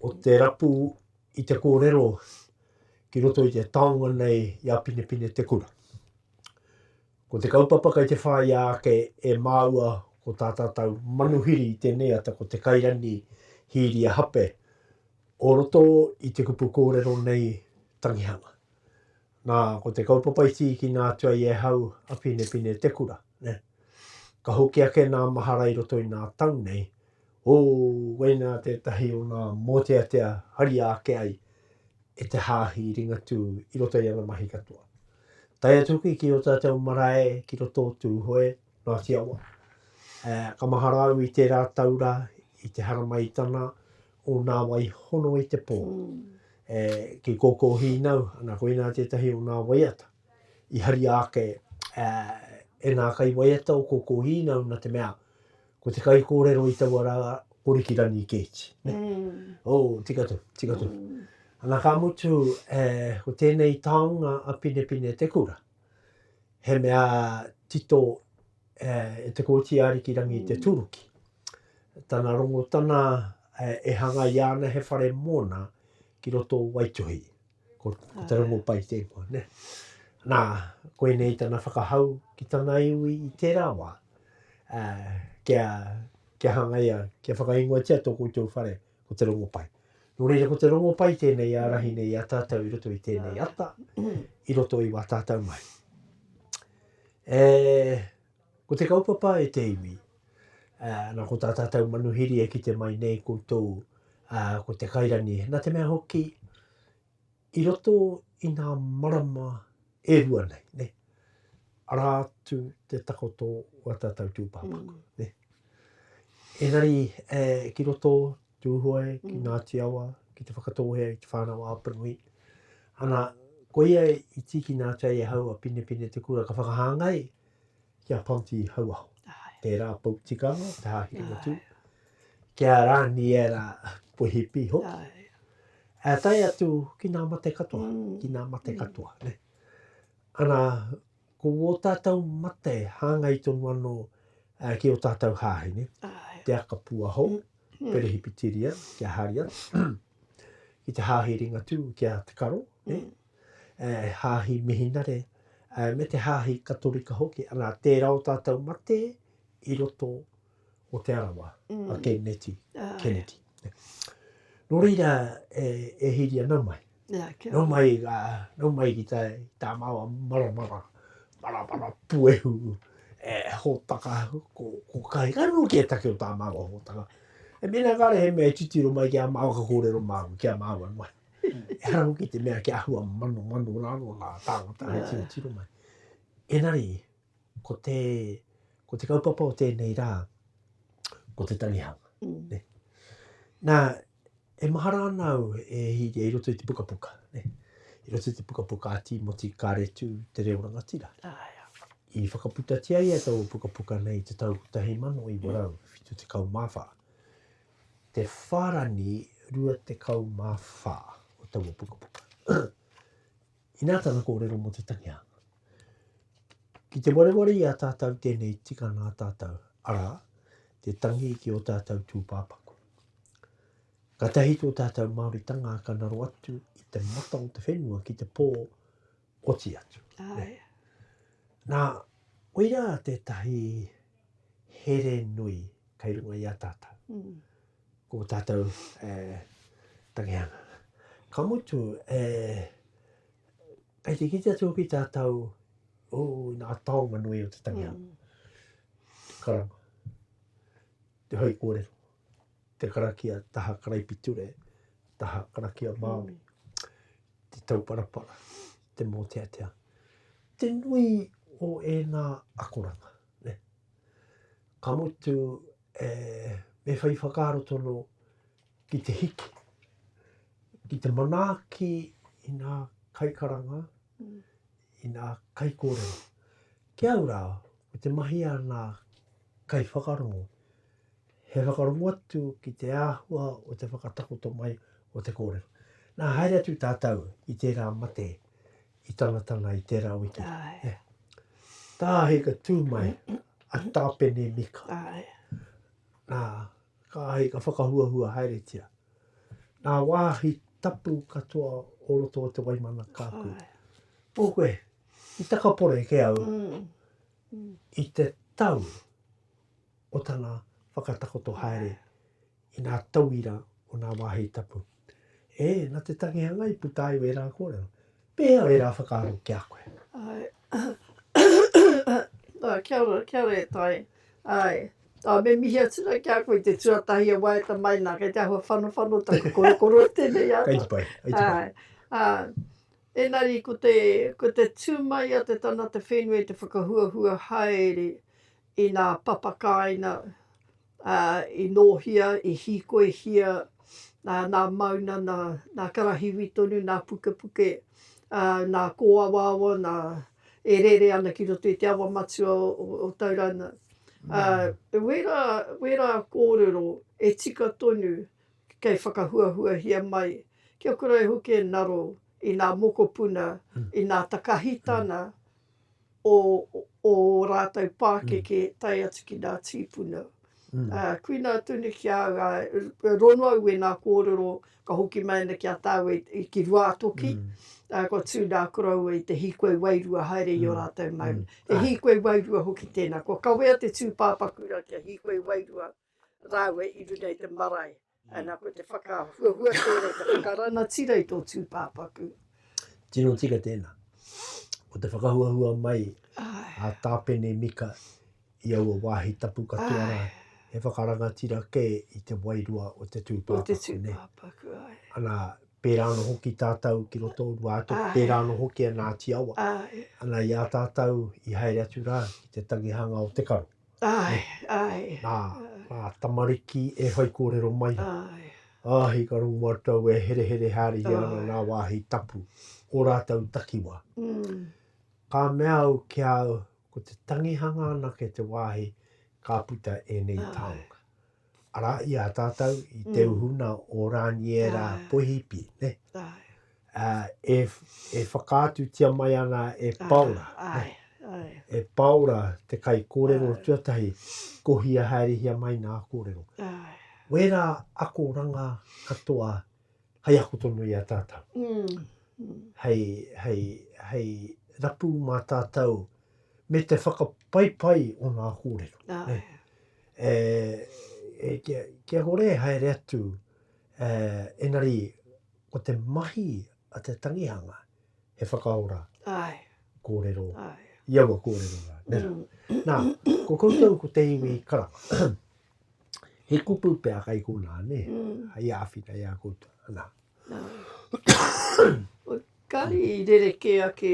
o te rapu i te kōrero ki roto i te taonga nei i a Pinepine Te Kura. Ko te kaupapa kei te whāia ake e māua ko tā tātou manuhiri i tēnei ata ko Te Kairani Hīria Hape o roto i te kupu kōrero nei tangihanga. Nā, ko te kaupapa i tīkina atu ai e hau a Pinepine te kura, nē. Ka hoki ake nā mahara i roto i nā tau nei, ō, koinā tētahi o nā mōteatea haria ake ai e te Hāhi Ringatū i roto i ana mahi katoa. Tae atu hoki ki ō tātou marae ki roto o Tūhoe, Ngāti Awa. Ā, ka mahara au i tērā tau rā, i te haramai tana, o nā wai hono i te pō. E, ki kōkō hīnau, ana koinā tētahi o nā waiata i haria ake e, e nā kaiwaiata o kōkō hīnau nā te mea, ko te kaikōrero i taua rā ko Riki Rangi Keeti. Mm. Oh, tika tū, tika tū. Mm. Ana ka mutu, e, ko tēnei taonga a Pinepine Te Kura, he mea tito E te Kōti Ariki Rangi i te Tūruki. Tana rongotana e hangaia ana he whare mōna ki roto o Waituhi. Ko, ko te rongo pai tēnā, ne? Nā, koinei tana whakahau ki tana iwi i tērā wā. Uh, kia, kia hangaia, kia whakaingoatia tō koutou whare, ko te rongo pai. Nō reira, ko te rongo pai tēnei ārahi nei a tātou i roto i tēnei ata, i roto i wā tātou mahi. E, ko te kaupapa e te iwi, a, na ko tā tātou manuhiri e kite mai nei koutou, a, ko te kairangi. Na te mea hoki, i roto i nā marama e rua nei, ne, ara atu te takoto o a tātou tūpāpaku, ne. Engari, e, ki roto Tūhoe, ki Ngāti Awa, ki Te Whakatōhea, i Te Whānau-a-Apanui. Ana, koia i tīkina atu ai e hau a Pinepine Te Kura ka whakahāngai ki a Ponty Hauaho. Tērā pou tikanga, te hāhiri motu. Ki a Rāniera Poihipi hoki. E tae atu ki nā mate katoa, mm. ki nā mate mm. katoa. Ne? Ana, Ko wō tātou mate hāngai tonu anō ki ō tātou hāhi, ne? Te aka puahou, Perehipitiria, ki a Haria, ki te hāhi Ringatū, ki a Te Karo, ne? Hāhi Mihinare, me te hāhi Katorika hoki, ana, tērā ō tātou mate i roto o Te Arawa, a Ken Neti, Kennedy. Nō reira e, e hiri ana mai. Yeah, nō mai, a, nō mai ki tā, tā māua maramara, maramara puehu, e, hōtaka, ko, ko kai, ka nō ki e take o tā māua hōtaka. E mena kāre he mea e titiro mai ki a māua ka kōrero māua, ki a māua mai. E hara hoki te mea ki a hua mano mano rāno nā tāngata he tiro mai. Engari, Ko te, ko te kaupapa o tēnei rā, ko te tangihanga. Ne? Nā, e mahara ana au e hīria i roto i te pukapuka. Ne? I roto i te pukapuka a Tīmoti Kāretu, Te Reo Rangatira. I whakaputatia ia tō pukapuka nei te tau 1974. Te whārani 24 o taua pukapuka. Inā tana kōrero mō te Tangihanga. Ki te wareware i a tātau tēnei tika nā tātau, arā, te tangi ki ō tātau tūpāpaku. Katahi tō tātau Māoritanga ka ngaro atu i te mata o te whenua ki te pō oti atu. Ae. Nā, koirā tētahi here nui kei runga i a tātau. Mm. Ko tātou e tangihanga. Ka mutu, e, kei te kite atu hoki tātou, o, nā taonga nui o te tangihanga. Te karanga, te whai kōrero, te karakia taha karaipiture, taha karakia Māori, te tauparapara, te mōteatea, te nui o ēnā akoranga. Ka mutu, E, me whai whakaaro tonu ki te hiki, ki te manaaki i ngā kaikaranga, i ngā kaikōrero. Ki au rā, me te mahi a ngā kaiwhakarongo, he whakarongo atu ki te āhua o te whakatakoto mai o te kōrero. Nā, haere atu tātou i tērā mate, i Tangatanga i tērā wiki. Tā Ahika tū mai, a Tāpene Mika. Nā, kā Ahika whakahuahua haeretia. Nā wāhi tapu katoa o roto o te Waimana kāku. Pō koe, i takapore ke au i te tau o tana whakatakoto haere i ngā tauira o ngā wāhi tapu. E, na te tangihanga i puta ai wērā kōrero. Pēhea ērā whakaaro ki a koe? Āe. Āe, kia ora, kia ora e Tai. Āe. Ā, me mihi atu rā ki a koe i te tuatahi e waiata mai nā, kei te āhua whanowhano taku korokoro i tēnei ata. Kei te pai, kei te pai. Āe. Ā, engari ko te, ko te tū mai a te tangata whenua i te whakahuahua haere i ngā papakāina, ā, i nōhia, i hīkoihia, ā, nā Mauna, nā, nā Karahiwi tonu, nā Pukepuke, ā, nā Kōawaawa, nā, e rere ana ki roto i te awa matua o, o, o Tauranga. Ā, wērā, wērā kōrero e tika tonu kei whakahuahuahia mai, kia kore ai hoki e ngaro i ngā mokopuna, i ngā takahitanga, o ō rātou pākeke tae atu ki ngā tīpuna. Ā, kuina atu nei ki a au, ā, ronua au e ngā kōrero ka hoki mai ana ki a tāua i, ki Ruātoki, ā, kua tū ngā koroua i te hīkoi wairua haere i ō rātou maunga. He hīkoi wairua hoki tēnā. Kua kawea te tūpāpaku rā kia hīkoi wairua Rāua i runga i te marae. Ana, ko te whakahuahua tērā, te whakarangatira i tō tūpāpaku. Tino tika tēnā. Ko te whakahuahua mai a Tāpene Mika i aua wāhi tapu katoa rā, he whakarangatira kē i te wairua o te tūpāpaku. O te tūpāpaku, ai. Ana, pērā anō hoki tātou ki roto o Ruātoki, pērā anō hoki a Ngāti Awa. Ana, i a tātou i haere atu rā ki te tangihanga o te karo. Ae, ae. Na, a tamariki e whai korero mai ra. Ae. Ahi ka rongu matou e herehere haria ana na wahi tapu o ratou takiwa. Umm. Ka mea au ki a au, ko te tangihanga anake te wahi ka puta enei taonga. Arā, i a tātou, i te uhuna o Rāniera Poihipi, nē, e whakaatutia mai ana e Paora, e Paora te kaikōrero tuatahi, kohia haerehia mai nā kōrero. Wērā akoranga katoa hai ako tonu i a tātau. Hei, hei, hei rapu mā tātau me te whakapaipai o ngā kōrero. Āe. E, e, kia, kia kore e haere atu, e, engari, ko te mahi a te tangihanga, he whakaora. Āe. Kōrero. Āe. I aua kōrero rā, nē rā. Nā, ko koutou ko te iwi karanga. He kupu pea kai konā, nē, hei āwhina i a koutou, anā. Nā. Kāre i rerekē ake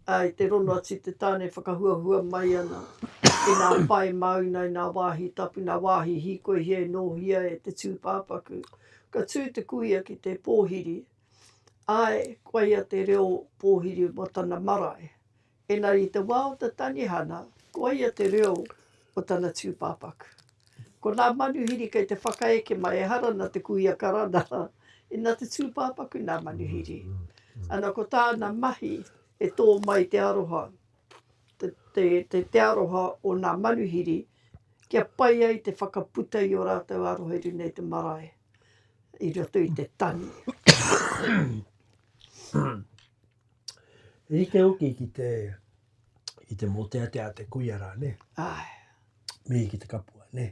i te rono atu i te tāne whakahuahua mai ana i ngā pae māuna, i ngā wāhi tapu, ngā wāhi hīkoihia e nōhia e te tūpāpaku. Ka tū te kuia ki te pōhiri, āe, koia te reo pōhiri mō tana marae. Engari i te wā o te tangihana, ko ia te reo o tana tūpāpaku. Ko nā manuhiri kei te whakaeke mai, ehara nā te kuia karana, inā te tūpāpaku nā manuhiri. Ana ko tāna mahi e tō mai te aroha, te, te, te, te aroha o nā manuhiri, kia pai ai te whakaputa i ō rātou aroha i runga i te marae, i roto i te tangi. Rite hoki ki te, ki te mōteatea te kuia rā, ne? Ai. Mihi ki te kapua, ne?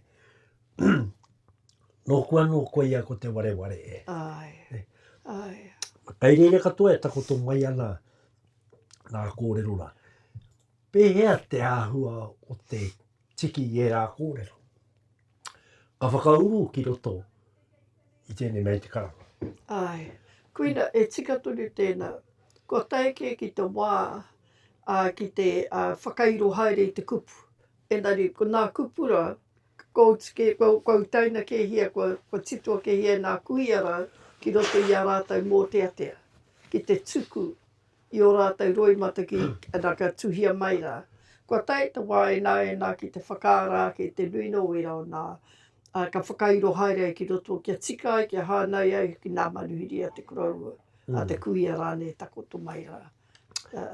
Nōku anō koia ko te wareware e. Ai. Ne? Ai. Kai reira katoa e takoto mai ana nā kōrero rā. Pēhea te āhua o te tiki i ērā kōrero? Ka whakauru ki roto i tēnei mea i te karanga. Āe. Koina, e tika tonu tēnā. Kua tae kē ki te wā, ā, ki te, ā, whakairo haere i te kupu. Engari, ko nā kupu rā, kua oti kē, kua, kua utaina kēhia, kua, kua titoa kēhia e nā kuia rā ki roto i a rātou mōteatea, ki te tuku i ō rātou roi mataki ana ka tuhia mai rā. Kua tae te wā e nā e nā ki te whakaara ake i te nui nō wērā o nā, ā, ka whakairo haere ai ki roto kia tika ai, kia hānai ai hoki nā manuhiri a te koroua, a te kuia rānei takoto mai rā. Ā.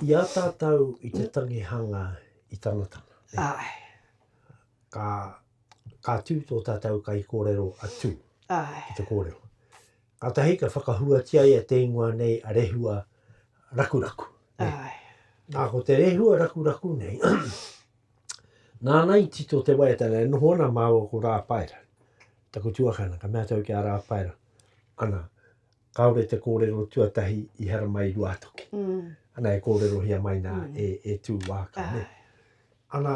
I a tātou i te tangihanga i Tanatana, nē? Āe. Ka, ka tū tō tātou kaikōrero a Tū. Āe. Ki te kōrero. Kātahi ka whakahuatia ia te ingoa nei a Rehua Rakuraku. Nā, ko te Rehua Rakuraku nei, nāna i tito te waiatanga e noho ana māua ko Rāpaera. Taku tuakana, ka mea tau ki a Rāpaera, ana, kāore te kōrero tuatahi i haramai Ruātoki. Mm. Ana, e kōrerohia mai nā mm. e, e Tūwāka. Ai. Ana,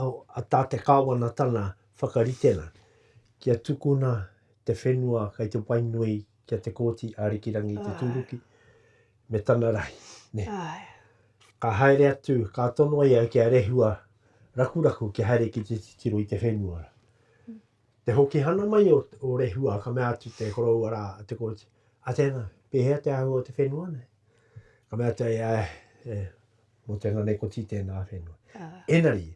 a tā te Kāwanatana whakaritenga kia tukuna te whenua kei te wai nui ki a Te Kooti Ārikirangi Te Tūruki me tana rahi. Ka haere atu, ka tonoa ia ki a Rehua Rakuraku kia haere ki te titiro i te whenua. Te hoki hana mai o Rehua ka mea atu te koroua rā a Te Kooti, a tēnā, pēhea te āhua o te whenua nei? Ka mea atu ia, e, Mō tēnā nei koti tēnā whenua. Enari,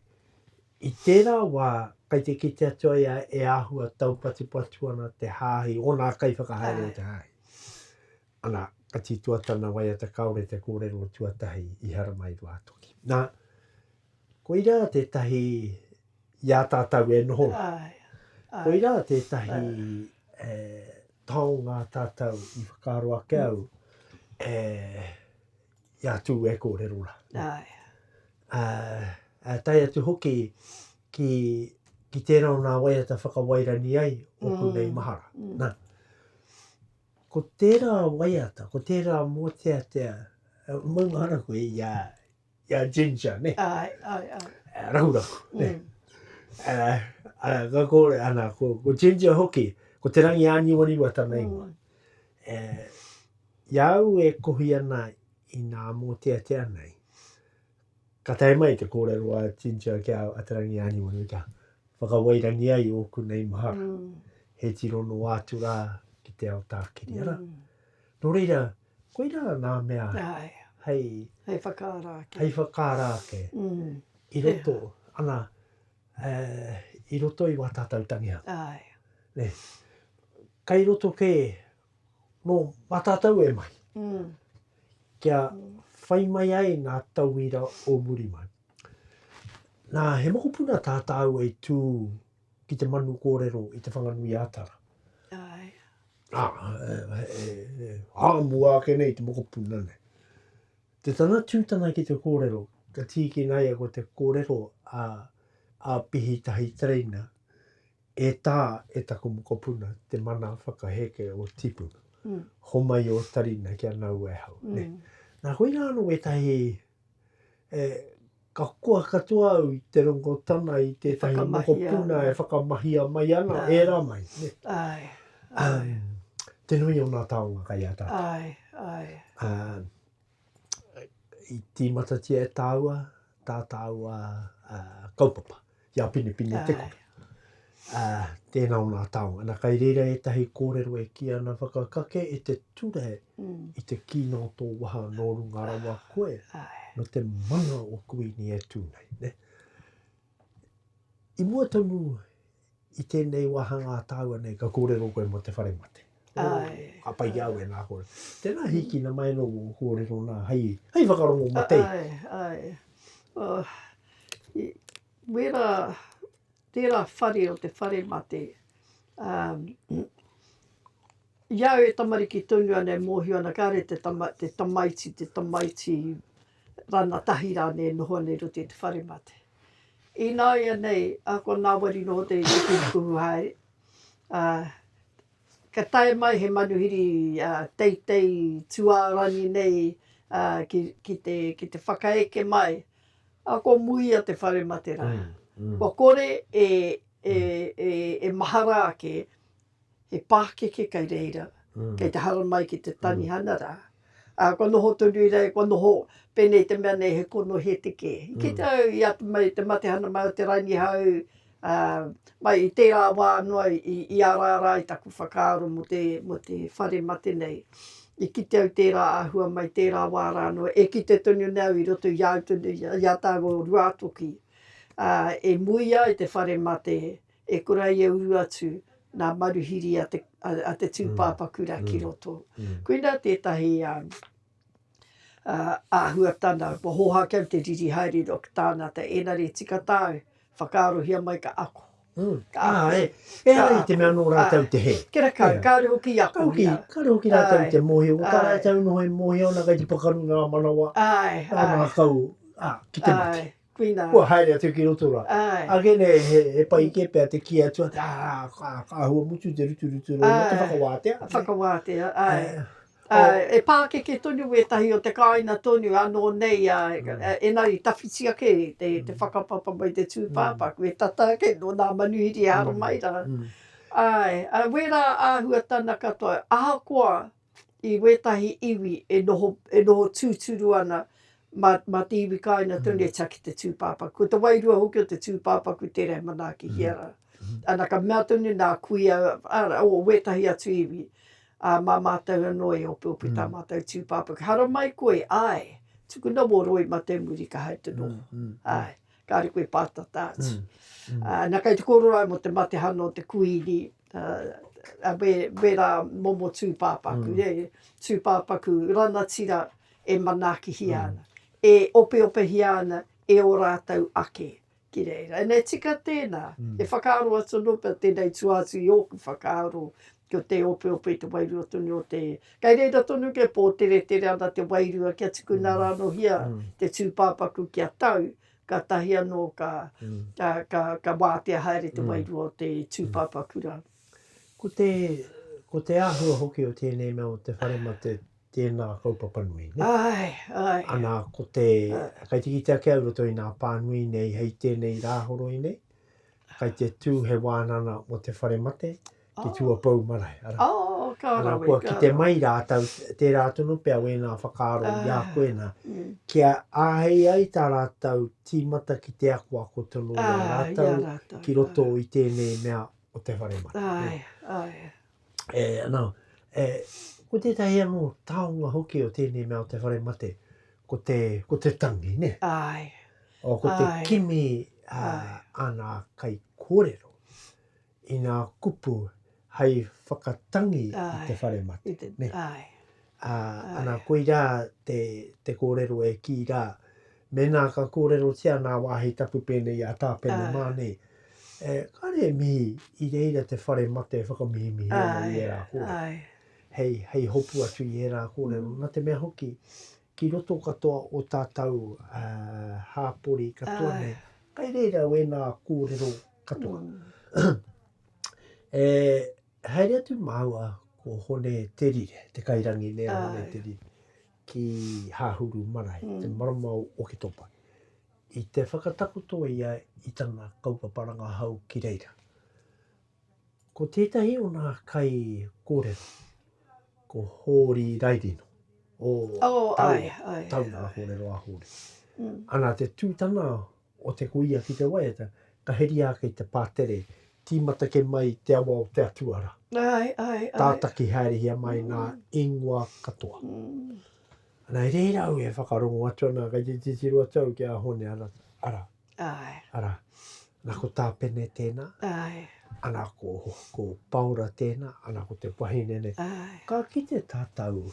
i tērā wā, kai te kite atu ai e āhua taupatupatu ana te hāhi, onā kaiwhakahaere o te hāhi. Ana, ka tītoa tana waiata kāore te kōrero o tuatahi i Haramairuātoki. Nā, koirā tētahi i a tātou e noho ai. Koirā tētahi e taonga tātou i whakaaro ake au e Ia tū e kōrero rā. Ai. Ā, ā, tae atu hoki ki, ki tērā o nā waiata whakawairani ai o mm. kunei mahara. Mm. Nā, ko tērā waiata, ko tērā mōteatea, eh, maunga ana koe i a, i a Ginger, ne? Ai, ai, ai. Eh, rahuraku, ne? Mm. Uh, uh, ka kore, ana, ko, ko Ginger hoki, ko te rangi āniwaniwa tana mm. ingoa. Mm. Uh, I a au e kohi ana i nā mōteatea nei, ka tae mai te kōrero a Ginger ki a Te Rangi Āniwaniwani kia whakawairangi ai ōku nei mahara. He tiro noa atu rā ki te ao tākiri, arā. Nō reira, koirā nā mea hei... Hei whakaara ake. Hei whakaara ake. I roto, ana, i roto i wā tātou tangihanga. Kai roto kē Nō Matatau e mahi, kia whai mai ai ngā tauira o muri mai. Nā, he mokopuna tā tāua i tū ki te manu kōrero i Te Whanganui-ā-Tara. Āe. Ā, ā mua ake nei te mokopuna nei. Te tana tū tana ki te kōrero, ka tīkina ia ko te kōrero a Pihi Tahi Tereina, E tā, e taku mokopuna, te mana whakaheke o tipu. Mm. Homai o tarina kia nau e hau. Mm. Ne? Nā, hoi rā anō wētahi, e, ka koa katoa au i te rongotana i tētahi mokopuna e whakamahia mai ana, e rā mai. Ne? Ai. Um, te nui o nā taonga kai a tātou. Ai, ai. Um, i tīmatatia e tāua tā tāua uh, kaupapa, i a Pinepine te kore. Uh, tēnā o nā tāonga. Nā kai reira ētahi kōrero e ki ana whakakake e te ture mm. i te kīna o tō waha nō runga rawa koe, no te mana o kuini e tū nei. Ne? I mua tonu i tēnei wāhangā tāua nei, ka kōrero koe mō te whare mate. Ai. Ka pai ki au e nā kōrero. Tēnā, hīkina mai anō wō kōrero nā, hei, hei whakarongo matei. Ai, ai. Oh, i, wērā, tērā whare o te whare mate, um, i au e tamariki tonu ana e mōhio ana, kāre te tama, te tamaiti, te tamaiti rangatahi rānei e noho ana i roto i te whare mate. Ināianei ā, ko Ngāwari nō te kuhukuhu haere, ā, ka tae mai he manuhiri teitei tūārangi nei ki te, ki te whakaeke mai, ā, ko Muia te whare matera. Kua kore e, e, e, e mahara ake he pākeke kei reira, kei te haramai ki te Tanihana rā, ā, kua noho tonu i reira, kua noho, pēnei te mea nei he kono hēteke. I kite au i atu mai i te matehana mai o te Ranihau, ā, mai i tērā wā noa i, i araara ai taku whakaaro mō te, mō te whare mate nei. I kite au tērā āhua mai tērā wā rā noa, e kite tonu nei au i roto i a au tonu, i a tāua o Ruātoki, ā, e muia ai te whare mate, E kura ia uru atu nā maruhiri a te, a te tūpāpa kura ki roto. Koina tētahi āhuatana kua hoha kau te riri haere roa ki tāna ata, engari tika tāu, whakaarohia mai ka ako. Ka ako. Ā, e. Ehara i te mea nō rātou te hē. Kia rakau, kāore hoki i akohia. Kāore hoki, kāore hoki rātou i te mōhio. Ko tā rātou noho e mōhio ana kei te pakaru ngā manawa, ngā ngākau, ā, ki te mate. Āe, āe. kua haere atu ki roto rā. Ake nei he pai kē pea te kī atu, ā, ka āhua mutu te ruturutu rō mō te whakawātea. Whakawātea, āe. E pākeke tonu wētahi o te kāina tonu anō nei, ēnari tawhiti ake te whakapapa mai te tūpāpaku, e tata ake nō nā manuhiri e aro mai rā. Āe, wērā āhuatanga katoa, ahakoa i wētahi iwi e noho, e noho tūturu ana mā, mā te iwi kāinga tonu e tia ki te tūpāpaku. Ko te wairua hoki o te tūpāpaku tērā e manaakihia ana. Ana, ka mea tonu nā kuia, arā, o wētahi atu iwi, ā, mā mātou anō e opeope tā mātou tūpāpaku. Haramai koe, āe, tukuna wō roi mā te muri ka haere te noho. Āe. kāre koe pātata atu. Mm, mm. Uh, na kei te kōrero ai mo te matehana o te kuini, uh, me, me rā momo tūpāpaku, mm. e, tūpāpaku ranatira e manaakihia mm. ana, e opeopehia ana e o rātou ake ki reira. E nei tika tēnā, mm. e whakaaro atu anō pia tēnei tuātu i ōku whakaaro, Ki o te opeope te wairua tonu o te. Kei reira tonu ke po, teretere ana te wairua kia tukuna ra ano hia te tupapaku kia tau, katahi ano ka, ka, ka watea haere te wairua o te tupapaku ra. Ko te, ko te ahua hoki o tenei mea o te whare mate tena kaupapa nui, ne? Ae, ae. Ana ko te, kei te kite ake au roto i nga pa nui nei hei tenei ra horoi nei, kei te tu he wanana mo te whare mate, te tuapou marae. Ara, oh, ka rawe, ara, kua kite mai rātou, tērā tonu pea wēnā whakaaro uh, i a ah, koe nā, mm. kia āhei ai tā rātou tīmata ki te ako ako tonu uh, i a ah, rātou, i a rātou ki roto uh, i tēnei mea o te whare mara. Ai, ai. E, anā, e, ko tētahi anō taonga hoki o tēnei mea o te whare mate, ko te, ko te tangi, ne? Ai. O, ko ai. te kimi uh, ai. ana kai kōrero. i ngā kupu hei whakatangi i te whare mate. Ana, koirā te kōrero e kī rā, mēnā ka kōrerotia nā wāhi tapu pēnei a Tāpene mā nei, kāre e mihi i reira te whare mate e whakamihimihi ana i ērā kōrero, hei hopu atu i ērā kōrero, nā te mea hoki, Ki roto katoa o tātou hāpori katoa nei, kai reira wēnā kōrero katoa. E haere atu māua ko Hone Te Rire, te kairangi nei a Hone Te Rire, ki Hahuru marae, te marama o Oketopa. I te whakatakoto ia i tana kaupapa rangahau ki reira. Ko tētahi o nā kai kōrero, ko Hōri Rairino, o Taunga kōrero a Hōri. Ana te tū tana o te kuia ki te waiata, ka heria ake i te pātere, tīmata ke mai te awa o te atua rā. Tātaki haerehia mai nā ingoa katoa. Ana, e reira au e whakarongo atu ana kei te titiro atu au ki a Hōne Arata, arā. Ae. Ara, na ko Tapene tena. Ae. Ana ko, ko Paora tena, ana ko te wahine nei. Ae. Ka kite tatou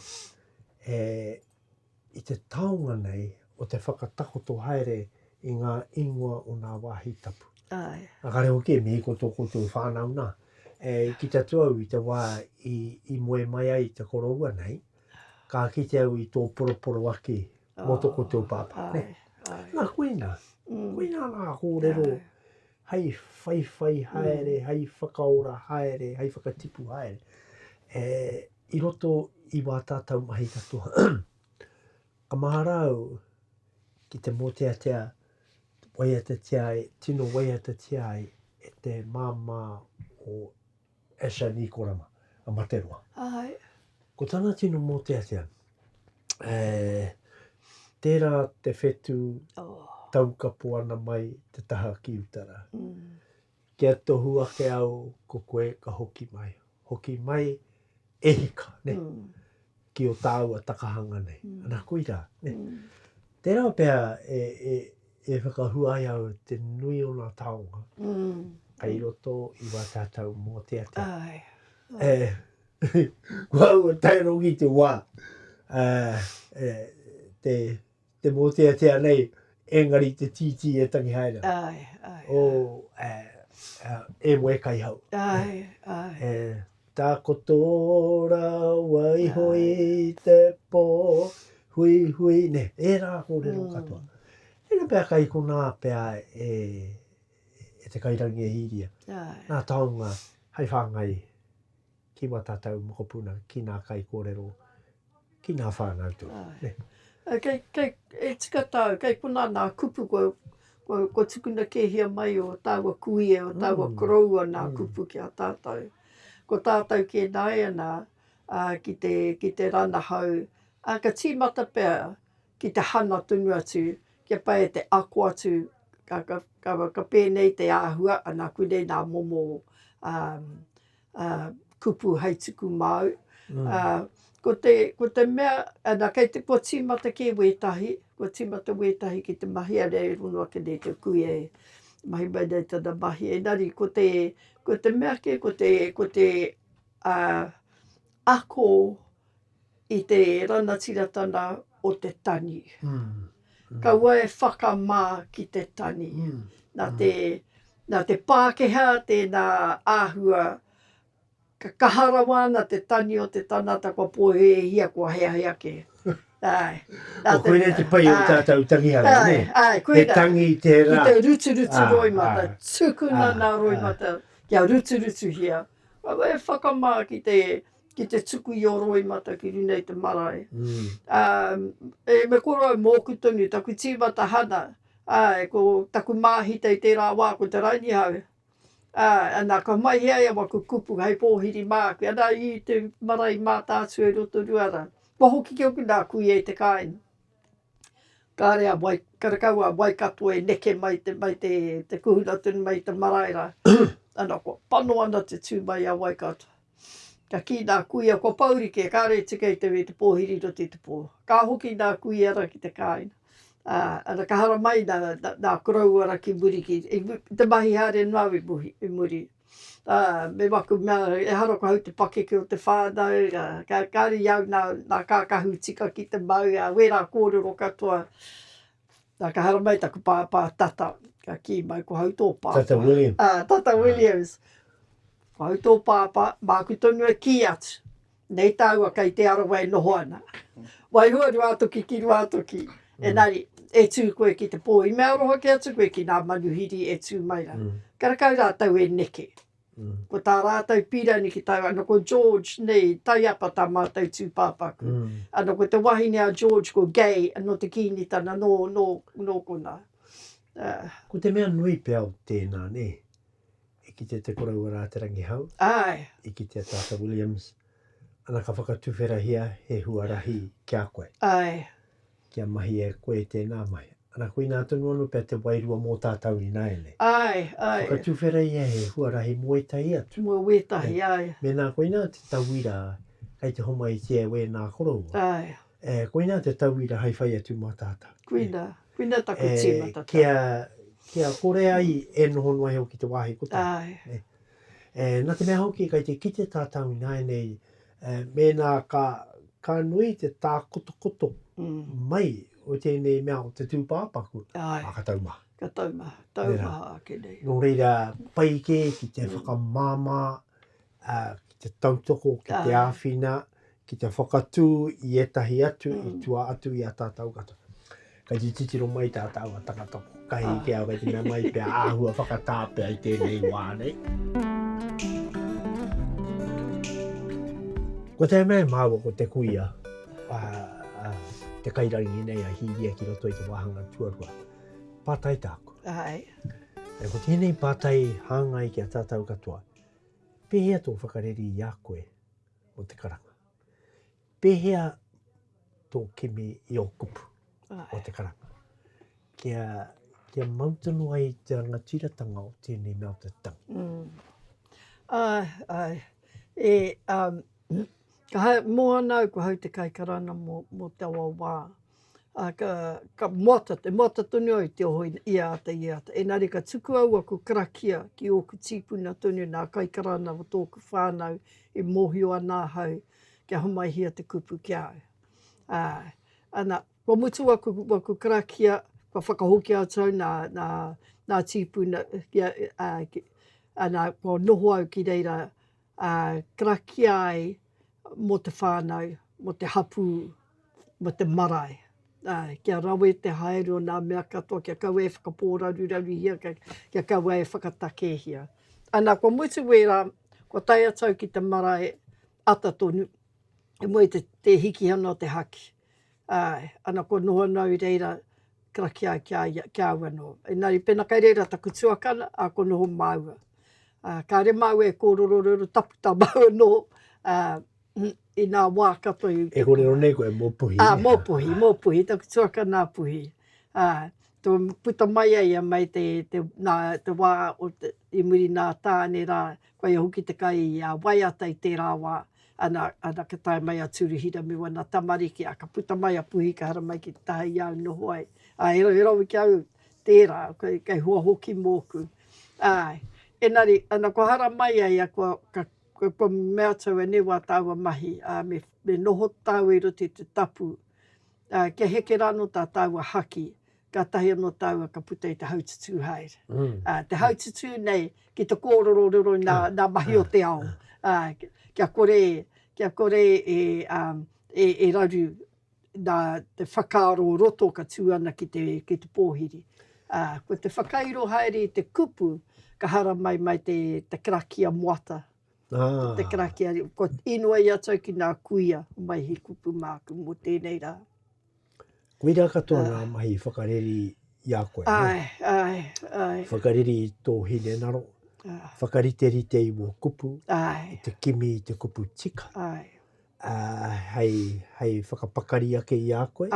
e, i te taonga nei o te whakatakoto haere i nga ingoa o nga wahi tapu. Ae. Engari hoki e mihi ko to koutou whanau na, e kite atu au i te wa i, i moe mai ai te koroua nei, ka kite au i to poroporoaki motoko o te o pāpā. Āe, āe. Nā, koina, koina ngā kōrero hei whaiwhai haere, hei whakaora haere, hei whakatipu haere. E, i roto i wā tātau mahi katoa, ka mahara au ki te mōteatea, waiatatia ai, tino waiatatia ai e te māmā o Asher Nikorama, a Materoa. Āe. Ko tana tino mōteatea, e, tērā te whetū taukapo ana mai te taha ki uta rā. Kia tohu ake au ko koe ka hoki mai. Hoki mai e hika, ne, ki o tāua takahanga nei. Ana koira, ne. Tērā pea e, e, e whakahua ai au te nui o ngā taonga kei roto i wā tātou mōteatea. Ai. E, kua ua tae rongi te wā, e, e, te, Te mōteatea nei, engari te tītī e tangi haere ana. Āe, āe. O, ē, ā, e moe kai hau. Āe, āe. E takoto rawa iho i te pō, hui, hui, nē, ērā kōrero katoa. Tēnā pea kai konā pea e, e te kairangi e Hīria. Āe. Nā taonga hai whāngai. ki wā tātou mokopuna, ki nā kaikōrero, ki nā whānau tō. Āe. Kei, kei, e tika tāu, kei konā nā kupu kua, kua, kua tukuna kēhia mai o tāua kui e, o tāua koroua nā kupu ki a tātou. Ko tātou kē nāianā, ā, ki te, ki te ranahau, ā, ka tīmata pea ki te hanga tonu atu, kia pai e te ako atu, ka, ka, ka, ka pēnei te āhua, anā, koinei nā momo, ā, ā, kupu hai tuku māu. Ā, ko te, ko te mea, ana, kei te, kua tīmata kē wētahi, kua tīmata wētahi ki te mahi a reira e hono ake nei te kuia e mahi mai nei tana mahi. Engari ko te, ko te mea kē, ko te, ko te, ā, ako, i te ranatiratanga o te tani. Kaua e whakamā ki te tani. Nā te, nā te Pākehā tēnā āhua, ka kaha rawa ana te tani o te tangata kua pōhēhia, kua heahe ake. Āe. Nā te. Koinei te pai o tātou tangihanga, nē? Āe, āe, koinā. He tangi tērā. Ki te ruturutu roimata. Tukuna nā roimata kia ruturutuhia. Kaua e whakamā ki te ki te tuku i o Roimata ki runa i te marae. Um, e me korau mōku tonu, taku tīmata hana, ai, ko taku māhita i tērā wā, ko te Ranihau. Ai, ana, ka mahi ai a waku kupu hei pōhiri māku, ana i te marae i Mātaatua i Rotoruara. Kua hoki ki oku nā kuia i te kāinga. Kāre a wai, kāre kau a Waikato e neke mai te, mai te, te kuhuna tonu mai te marae rā. ana, kua pano ana te tū mai a Waikato. Ka kī nā kuia kua paurike, kāre e tika i te wē te pōhiri nō te tupō. Ka hoki nā kuia ra ki te kāinga, ā, ana ka haramai nā, nā koroua ra ki muri ki, i te mahi haere noa i muri, i muri. Ā, me waku mea, ehara ko au te pakeke o te whānau, ā, ka, kāre i au nā, nā kākahu tika ki te mau, ā, wērā kōrero katoa. Na ka haramai taku pāpā tata, ka kī mai ko hau tō pāpā. Tata Williams. Ah, tata Williams. Ko hau tō pāpā, māku tonu e kī atu, nei tāua kei Te Arawa e noho ana. Waihua Ruātoki ki Ruātoki. Enari, e tū koe ki te pō, i mea aroha kē atu koe ki nā manuhiri e tū mai ra. Karakau rātou e neke. Ko tā rātou pīrani ki tāu anō ko George nei, taiapa tā mātou tūpāpaku. Anō ko te wahine a George ko Gay, anō te kīngitana nō, nō, nō konā. Ā. Ko te mea nui pea o tēnā, nē, i kitea te koroua rā te rangihau. Āe. I kitea Tata Williams, ana ka whakatuwherahia he huarahi ki a koe. Āe. Kia mahi e koe tēnā mahi. Ana koinā tonu anō pea te wairua mō tātau ināianei. Āe, āe. Whakatuwhera ia he huarahi mō ētahi atu. Mō wētahi, āe. Mēnā koinā te tauira kei te homaitia e wēnā koroua. Āe. E, koinā te tauira hai whai atu mā tātau. Koinā, koinā taku tīmata tau. E, kia, kia kore ai e noho noa iho ki te wāhi kotahi. Āe. E, nā te mea hoki kei te kite tātau ināianei Ā, mēnā ka, ka nui te tākotokoto mai o tēnei mea o te tūpāpaku, ā, ka tau maha. Ka tau maha, tau maha ake nei. Nō reira, pai kē ki te whakamāmā, ā, ki te tautoko, ki te āwhina, ki te whakatū i ētahi atu i tua atu i a tātou katoa. Kei te titiro mai tā tāua tangata kotahi ki au, kei te mea mai pea āhua whakatā pea i tēnei wā nei. Ko te mea māua ko te kuia, a, a, te kairangi nei a Hīria ki roto i te wāhanga tuarua. Pātai tāku. Ai. E ko tēnei pātai hāngai ki a tātou katoa. Pēhea tō whakareri i a koe o te karanga? Pēhea tō kimi i ō kupu o te karanga? Kia, kia mau tonu ai te rangatiratanga o tēnei mea o te tangi. Mm. Ai, ai. E, um, ka hai, mō ana au ko hau te kaikarana mō, mō taua wā. ā, ka, ka moata, te moata tonu au i te oho i a āta, i a āta. Engari ka tuku au aku karakia ki ōku tīpuna tonu, nā Kaikarana o tōku whānau, i mōhio ana ahau kia homaihia te kupu ki a au. Ā, ana, kua mutu aku, aku karakia, kua whakahokia atu au nā, nā, nā tīpuna, ā, ana, kua noho au ki reira, ā, karakia ai mō te whānau, mō te hapū, mō te marae, ā, kia rawe te haere o ngā mea katoa, kia kaua e whakapōraruraruhia, kia kaua e whakatakehia. Ana, kua mutu wērā, kua tae atu au ki te marae ata tonu, i mua i te hikihana o te haki. ā, ana kua noho anō i reira karakia ai ki a ia, ki a au anō. Engari pēnā kei reira taku tuakana, ā, kua noho māua. Ā, kāre māua e kōrero reo tapu tā māua anō, ā, inā wā katoa i. E kōrero nei koe mō Puhi. Ā, mō Puhi, mō Puhi, taku tuakana a Puhi. Ā, tō puta mai a ia mai te, te, nā, te wā o te, i muri nā Tāne rā, Koia hoki te kai a waiata i tērā wā, ana, ana ka tae mai a Tūruhira me wana tamariki, a ka puta mai a Puhi ka hara mai ki te taha i au noho ai. A e, e rawe ki au, tērā, kei, kei hua hoki mōku. Āe. Enari, ana kua hara mai ai a kua, ka, ka, kua mea atu au enei wā tāua mahi, ā, me, me noho tāua i roto i te tapu, ā, kia heke rāno tā tāua haki, Kātahi anō tāua ka puta i te haututū haere. Te haututū nei ki te kōrero riro i ngā mahi o te ao. Kia kore, kia kore e raru nā te whakaaro o roto ka tū ana ki te pōhiri. Ko te whakairo haere i te kupu, ka haramai mai te karakia moata, te karakia, kua inoi atu au ki ngā kuia mai he kupu māku mō tēnei rā. Koirā katoa ngā mahi whakareri i a koe. Āe, āe, āe. Whakareri i tō hinengaro, whakariterite i wō kupu, i te kimi i te kupu tika, hei whakapakari ake i a koe.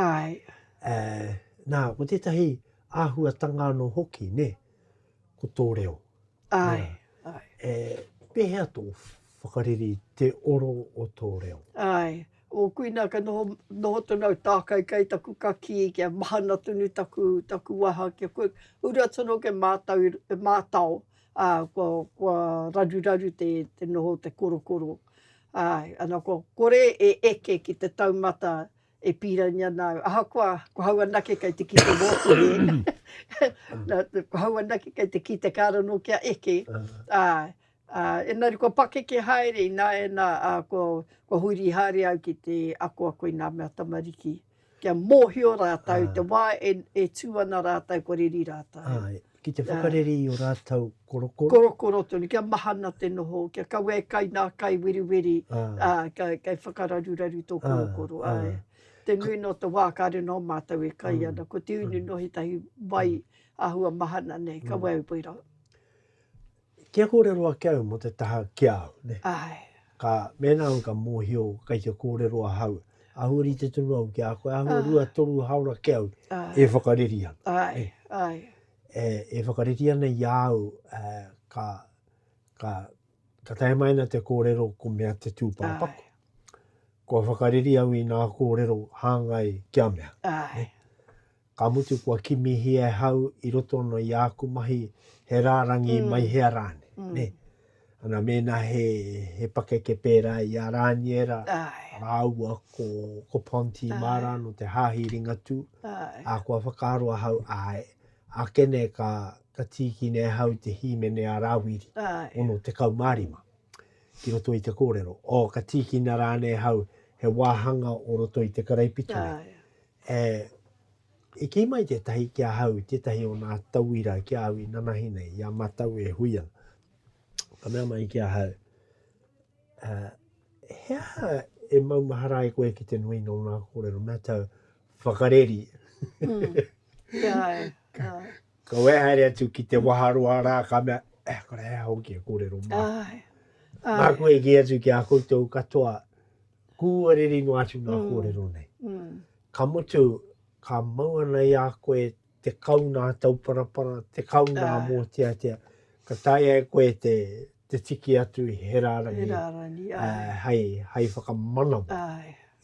Nā, ko tētahi āhuatanga anō hoki, nē, ko tō reo. Āe, āe. Pēhea tō whakareri i te oro o tō reo? Āe. O Kuina ka noho noho tonu au tākaikai taku kakī kia mahana tonu taku taku waha kia kua ura tonu kia mātau e mātao ā kua kua raruraru te te noho o te korokoro āe ana kua kore e eke ki te taumata e pīrangi ana au ahakoa ko hau anake kei te kite mōku e kua hau anake kei te kite kāre anō kia eke āe Ā, engari kua pakeke haere ināianā, ā, kua, kua huri haere au ki te akoako i ngā mea tamariki, kia mōhio rātou i te wā e, e tū ana rātou kua reri rātou. Āe, ki te whakareri i ō rātou korokoro. Korokoro tonu, kia mahana te noho, kia kaua e kai ngā kai weriweri, ā, kei, kei whakararuraru tō korokoro, āe. Te nui nō te wā kāre nō mātou e kai ana, ko te unu nō ētahi wai āhua mahana nei, kaua e wera. Kia kōrero ake au mō te taha ki a au, nē. Āe. Ka, mēnā au ka mōhio kei te kōrero ahau, āhua rite tonu au ki a koe, āhua rua, toru hāora ki au e whakareri ana. Āe, āe. E, e whakareri ana i a au, ka, ka, ka tae mai ana te kōrero ko mea te tūpāpaku. Āe. Kua whakareri au i ngā kōrero hāngai kia mea. Āe. ka mutu kua kimihia e hau i roto ana i āku mahi he rārangi mm. mai hea rāne. Mm. Ne? Ana mēnā he, he pakeke pērā i a Rāniera, rāua ko, ko Ponti Ai. Mara no te Hāhi Ringatū, Ai. a kua whakaaro ahau, ai, a kene ka, ka tīkine ahau te hīmene a Rāwiri, Ai. ono te kaumārima, ki roto i te kōrero. O, ka tīkina rāne ahau he wāhanga o roto i te karaipitu. Ai. He, i kī mai tētahi ki ahau, tētahi o nā tauira ki a au i nanahi nei, i a matau e hui ana. Ka mea mai ki ahau, uh, he aha e maumahara ai koe ki te nui nō nā kōrero, mea tau, whakareri. Mm. Yeah. ka, uh. ka wehaere atu ki te waharoa rā, ka mea, eh, kore hea hoki e kōrero mā. Ai. Ai. Māku e ki atu ki a koutou katoa, Kūariri noa atu ngā kōrero nei. Ka mutu, ka mau ana i a koe te kau nā Tauparapara, te kau nā Mōteatea, ka taea e koe te tiki atu i he rārangi hei whakamanawa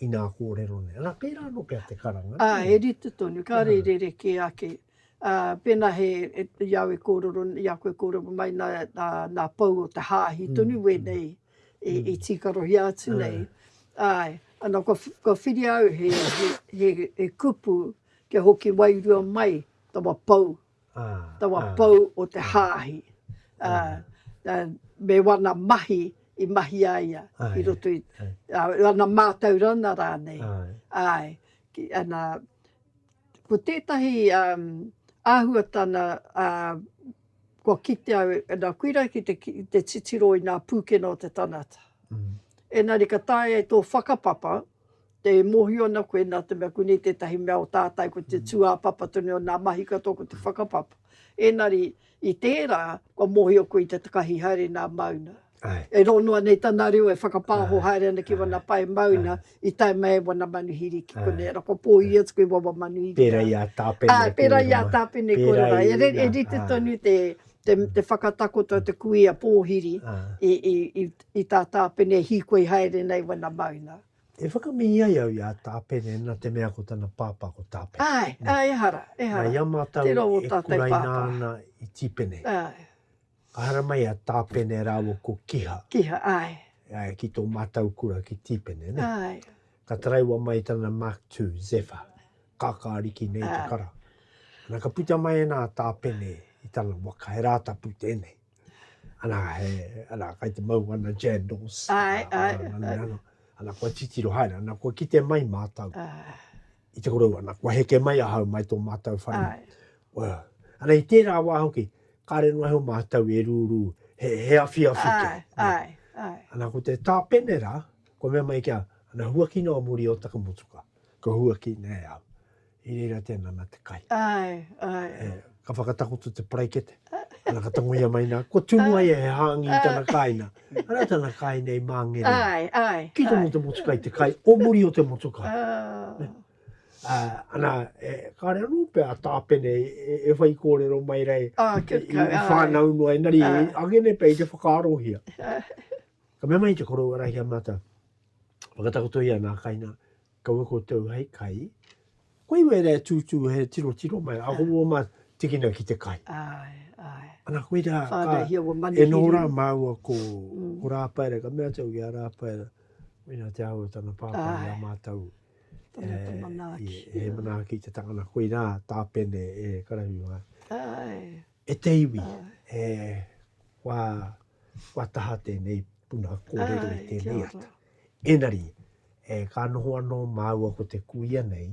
i ngā kōrero nei. Ana, pērā anō pea te karanga. Ā, he rite tonu, kāre i rerekē ake. Pēnā he, i a au e kōrero, i a koe e kōrero mai nā pou o te hāhi tonu, wēnei i tīkarohia atu nei. Āe, ana kua whiria au he kupu kia hoki wairua mai tawa pou, tawa pou o te hāhi. Me wana mahi i mahi a ia i roto i, wana mātaurana rānei. Āe, ana Ko tētahi āhuatana kua kite au e nā Kuira ki te titiro i nā pūkena o te tangata. Ēnari ka taea e tō whakapapa te mōhio ana koe nā te mea ko nei tētahi mea o tātai ko te tūāpapa tonu o nā mahi katoa ko te whakapapa. Ēnari i tērā kua mōhio koe i te takahi haere nā Mauna. Ai. E rō noa nei tana reo e whakapāho Ai, haere ana ki ai, wana pae mauna ai. i tae mai e wana manuhiri ki Ai. konei. Ara kua pōhiri atu koe i wawa manuhiri Pērā rā. i a Tāpene Ā, e pērā kōrero i a mai. Tāpene e kōrero Pērā ai. E, i re, e ā, rite ā. tonu te, te, Mm. te whakatakoto o te kuia pōhiri Ā. i, i, i, i tā Tāpene e hīkoi haere nei wana mauna. E whakamihi ai au i a Tāpene nā te mea ko tana pāpā ko Tāpene. Āe, āe, ehara, Nā, ehara. i a mātou Tērā wō e tātou kuraina pāpā. ana i Tīpene. Āe. Ka haramai a Tāpene rāua ko Kiha. Kiha, āe. Āe, ki tō mātau kura ki Tīpene, nē? Āe. Ka taraiwa mai tana Mark ii, Zephyr, kākā ariki nei te kara. Ana, ka puta mai ana a Tāpene i tana waka, he Rātapu tēnei. Ana, he, ana, kai te mau ana jandals. Āe, āe. Ana, kua titiro haere, ana, kua kite mai mātau. Āe. I te korou ana, kua heke mai ahau mai tō mātou whare. Well, ana i tērā wā hoki, kāre noa he o mātou e rūrū, he, he awhi awhi ai, ke. Ai, ai. Ana ko te tāpenera, kua mea mai kia, ana huakina o muri o taku motuka, kua huaki nei au. I reira tēnā nā te kai. Ai, ai. Yeah. ka whakatakoto te paraikete, ana ka tangoia mai nā, kua tunu ai he hāngi i tana kāina, arā tana kāina i māngere. Ai, ai. Ki tonu te motukai, te kai o muri o te motukai. Oh. Uh, ana, e, kāre anō pea a Tāpene e, e, e whai kōrero mai rei oh, i, i, i whānau noa, engari oh. e, agene pea i te whakaarohia. Ka mea mai te korou arahia mātou, whakatakotoia nā kaina, Kaua koutou hei kai. Koe i wera e tūtū he tiro tiro mai, a houa ma tikina ki te kai. Ae, ae. Ana koe ra ka. Whanau hia ua manihiri. E no ra maua ko Rapaera, ka mea tau ki a Rapaera, mena te aho tana papa i a matou. Tana te manaaki. He manaaki te tangana, koe ra ta pene e karahu. Ae. E te iwi, he wā, wā taha tēnei puna kōrero i tēnei ata. Ēnari, e ka noho anō māua ko te kuia nei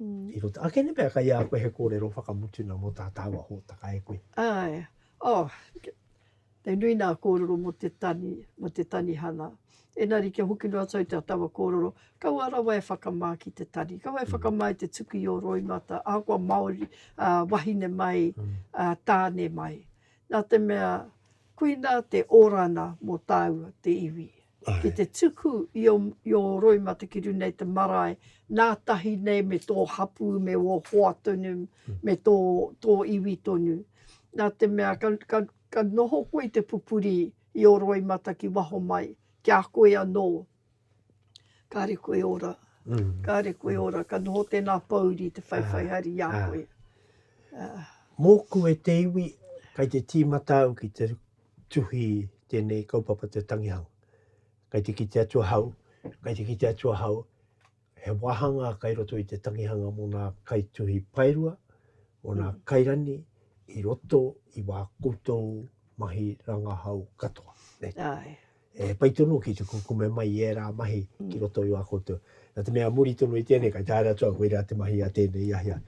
i roto. Ake nei pea kai a koe he kōrero whakamutuna mō tā tāua hōtaka e koe. Āe, oh, He nui nā kōrero mō te tani, mō te tanihana. Ēnari kia hoki noa atu au te taua kōrero, kaua rawa e whakamā ki te tani, kaua e whakamā i te tuku i ō roimata, ahakoa Māori, wahine mai, tāne mai. Nā te mea, koinā te orana mō tāua, te iwi. Ki te tuku i ō, i ō roimata ki runga i te marae, nā tahi nei me tō hapū, me ō hoa tonu, me tō, tō iwi tonu. Nā te mea, ka, ka, Ka noho koe i te pupuri i ō roimata ki waho mai, ki a koe anō. Kāre koe ora, kāre koe ora, ka noho tēnā pōuri te whaiwhai hari i a koe. Mōku e te iwi, kei te tīmata au ki te tuhi tēnei kaupapa te tangihanga. Kei te kite atu ahau, kei te kite atu ahau. He wāhanga kai roto i te tangihanga mō ngā kaituhi paerua, mō ngā kairani i roto i wā koutou mahi rangahau katoa. Āe. He pai tonu ki te kukume mai i ērā mahi ki roto i wā koutou. Nā te mea muri tonu i tēnei, kai tā ērā atu au, koirā te mahi a tēnei, i ahi a.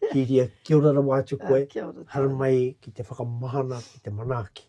Kīria, kia ora rawa atu koe. Kia ora tātou. Haramai ki te whakamahana, ki te manaaki.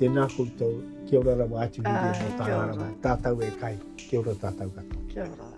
Tēnā koutou, kia ora rawa atu nui ah, e tāna rawa, tātou e kai, kia ora tātou katoa. Kia ora.